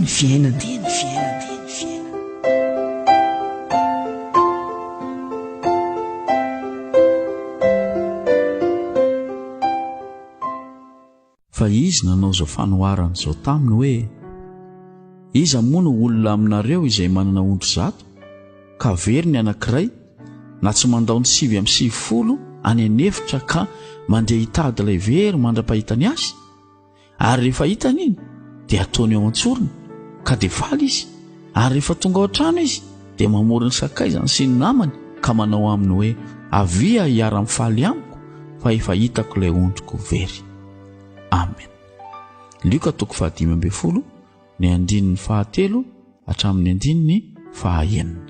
ny fiainana dia ny fiainana fa izy nanao izao fanoharana izao taminy hoe iza moa no olona aminareo izay manana ondry zato ka very ny anankiray na tsy mandao ny sivy amin'ny sivifolo any anefitra ka mandeha hitady ilay very mandra-pahitany azy ary rehefa hitany iny dia ataony ao an-tsorony ka dia faly izy ary rehefa tonga ao an-trano izy dia mamory ny sakaizany sy ny namany ka manao aminy hoe avia hiara-mifaly amiko fa efa hitako ilay ondriko very amen lioka toko fahadimy ambin'ny folo ny andininy fahatelo hatramin'ny andininy fahaenina.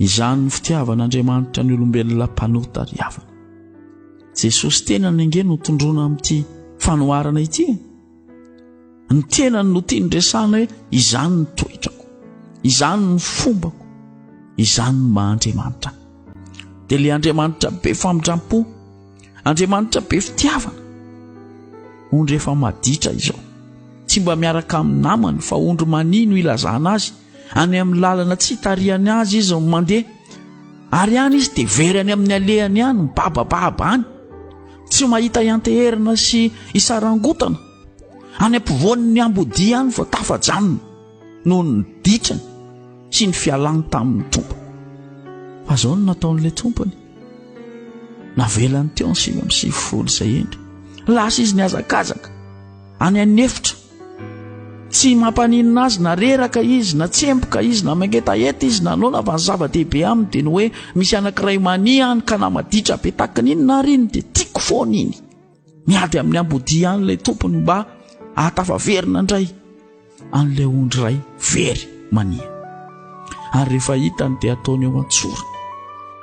Izany ny fitiavan'Andriamanitra ny olombelona mpanota ry havana. Jesosy tenany ange no tondroana amin'ity fanoharana ity. Ny tenany no tiany resahana hoe izany ny toetrako, izany ny fombako, izany ny maha Andriamanitra. Dia ilay Andriamanitra be famindram-po Andriamanitra be fitiavana. Ondry efa maditra izao. Tsy mba miaraka amin'ny namany fa ondry mania no ilazana azy. Any amin'ny lalana tsy hitarihany azy izy ny mandeha. Ary any izy dia very any amin'ny alehany any, mibabababa any. Tsy mahita ianteherana sy isarangotana. Any ampovoan'ny ambodia any vao tafajanona. noho ny dikany sy ny fialany tamin'ny tompo fa zao no nataon'ilay tompony navelany teo ny sivy amin'ny sivifolo izay endry lasa izy ny azakazaka any an'efitra tsy mampaninina azy na reraka izy na tsemboka izy na mangetaheta izy nanaona fa ny zava-dehibe aminy dia ny hoe misy anankiray mania any ka na maditra be takin'iny na riny dia tiako foana iny Miady amin'ny ambodia ihany ilay tompony mba ahatafaverina indray an'ilay ondry iray very mania. Ary rehefa hitany dia ataony eo an-tsorony.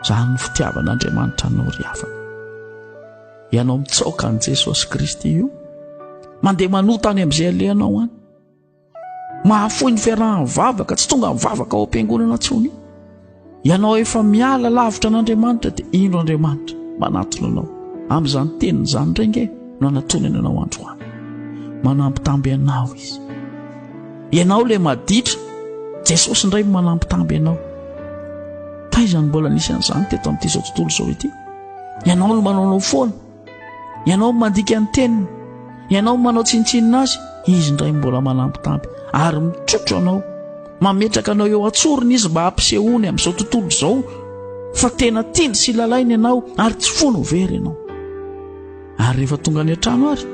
Izany ny fitiavan'Andriamanitra anao ry havana. Ianao mitsaoka an'i Jesosy Kristy io, mandeha manota any amin'izay alehanao any. Mahafoy ny fiarahan'ny vavaka, tsy tonga ny vavaka ao am-piangonana tsony. Ianao efa miala lavitra an'Andriamanitra dia indro Andriamanitra manatona anao. Amin'izany teniny izany indray nge no anatonany anao androany. Manambitamby anao izy. Ianao le maditra, Jesosy indray manambitamby anao. Taiza no mbola nisy an'izany teto amin'ity izao tontolo izao ity? Ianao no manaonao foana. Ianao no mandika ny teniny, ianao no manao tsinontsinona azy, izy indray mbola manampitampy ary mitrotro anao. Mametraka anao eo an-tsorony izy mba hampisehoany amin'izao tontolo izao fa tena tiany sy lalainy ianao ary tsy fony ho very ianao. Ary rehefa tonga any an-trano ary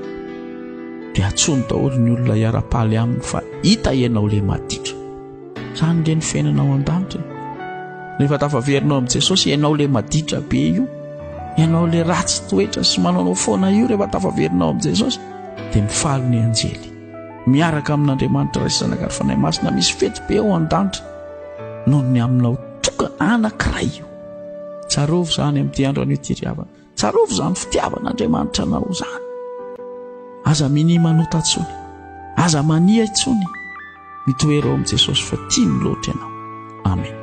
dia atsony daholo ny olona hiara-paly aminy fa hita ianao le maditra. Zany le ny fiainana ao an-danitra e. Rehefa tafaverinao amin'i Jesosy, ianao le maditra be io, ianao le ratsy toetra sy manaonao foana io rehefa tafaverinao amin'i Jesosy, dia mifaly ny anjely. Miaraka amin'Andriamanitra Ray sy Zanaka ary Fanahy Masina misy fety be ao an-danitra noho ny aminao toka anankiray io. Tsarovy izany amin'ity andro anio ity ry havana. Tsarovy izany fitiavan'Andriamanitra anao izany. Aza minia manota intsony. Aza mania intsony. Mitoera eo amin'i Jesosy fa tiany loatra ianao. Amen.